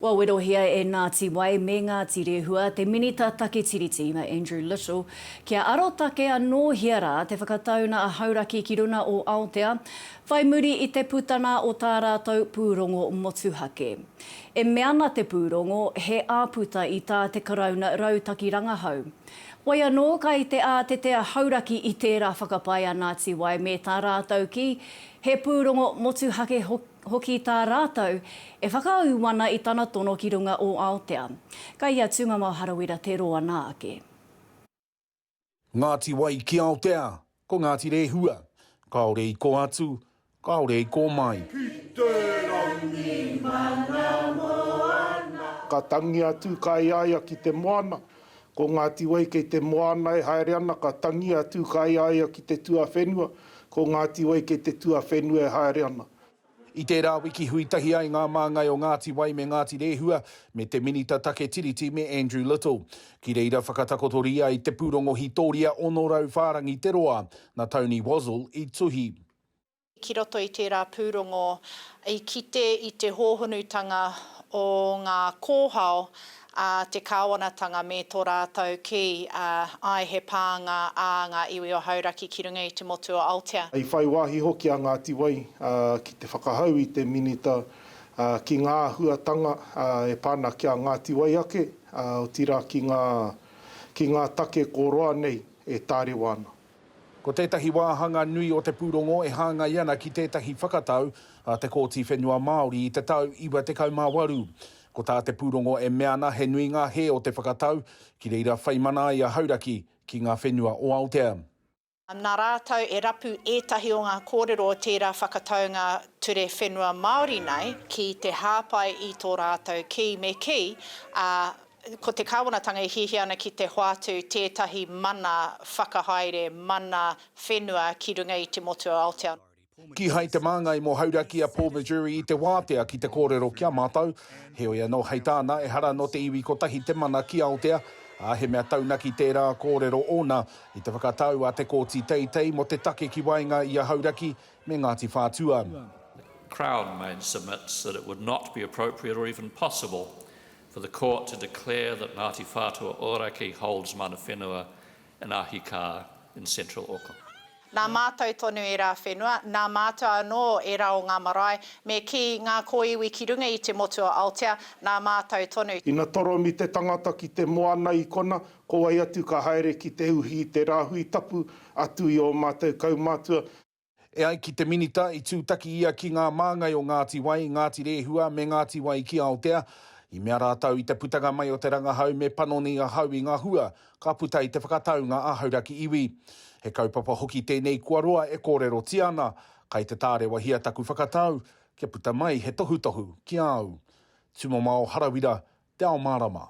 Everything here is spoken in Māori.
Wawerohia e Ngāti Wai me Ngāti Rehua te Minita Take Tiriti, a Andrew Little, kia arotake anōhia rā te whakatauna a Hauraki ki runga o Aotea, whai muri i te putanga o tā rātou pūrongo motuhake. E mea ana te pūrongo, he āputa i tā te Karauna rautaki rangahau. Wai anō, kai te ātete a Hauraki i tērā whakapae a Ngāti Wai me tā rātou kī, he pūrongo motuhake hoki. Hoki tā rātou, e whakaū ana i tana tono ki runga o Aotea. Kai a Tūngamao Harawira te roa nā ake. Ngāti Wai ki Aotea, ko Ngāti Rehua. Kāore i kō atu, kāore i kō mai. Ki te rangi mana moana. Ka tangi atu, ka e aia ki te moana. Ko Ngāti Wai kei te moana e haere ana ka tangi a Tūkāeaea ki te tuawhenua, ko Ngāti Wai kei te tuawhenua e haere ana. I tērā wiki hui tahi ai ngā māngai o Ngāti Wai me Ngāti Rēhua me te Minita Take Tiriti me Andrew Little. Ki reira whakatakotoria i te pūrongo hitoria 600 whārangi te roa, na Tony Wazzell i tuhi. ki roto i tērā pūrongo i kite i te hōhonutanga o ngā kōhao a te kāwanatanga me tō rātou kī, āe he pānga ā ngā iwi o Hauraki ki runga i te motu o Aotea. I whai wāhi hoki a Ngāti Wai ki te whakahau i te Minita ki ngā āhuatanga e pā ana ki a Ngāti Wai ake, otirā ki ngā take kōroa nei e tārewa ana. Ko tētahi wāhanga nui o te pūrongo e hāngai ana ki tētahi whakatau a te Kōti Whenua Māori i te tau 98. Ko tā te pūrongo e mea ana he nui ngā hē o te whakatau, ki reira whai mana ai a Hauraki ki ngā whenua o Aotea. Nā rātou e rapu ētahi o ngā kōrero o tērā whakataunga ture whenua Māori nei ki te hāpai i tō rātou kī me kī, ā, Ko te Kāwanatanga e hiahia ana ki te hoatu tētahi mana whakahaere, mana whenua ki runga i te motu o Aotearoa. Kīhai te Māngai mō Hauraki a Paul Missouri i te wātea ki te kōrero ki a mātou, heoi anō hei tāna, ehara nō te iwi kotahi te mana ki Aotea, ā, he mea taunaki tērā kōrero ōna i te whakatau a te Kōti Teitei mō te take ki waenga i a Hauraki me Ngāti Whātua. Crown main submits that it would not be appropriate or even possible For the Court to declare that Ngāti Whātua Ōrākei holds mana whenua in Ahikā in Central Auckland. Nā mātou tonu ērā whenua, nā mātou anō ērā o ngā marae, me kī, ngā kōiwi ki runga i te motu o Aotea, nā mātou tonu. Ina toromi te tangata ki te moana i kona, ko wai atu ka haere ki te uhi i te rāhui tapu, atu i ō mātou kaumātua. E ai ki te Minita, i tūtaki ia ki ngā māngai o Ngāti Wai, Ngāti Rēhua me Ngāti Wai ki Aotea. I mea rātou i te putanga mai o te rangahau me panoni ahau i ngā hua ka puta i te whakataunga a Hauraki Iwi. He kaupapa hoki tēnei kua roa e kōrerotia ana, kai te tārewahia taku whakatau kia puta mai he tohutohu ki a au. Tumamao Harawira, Te Ao Mārama.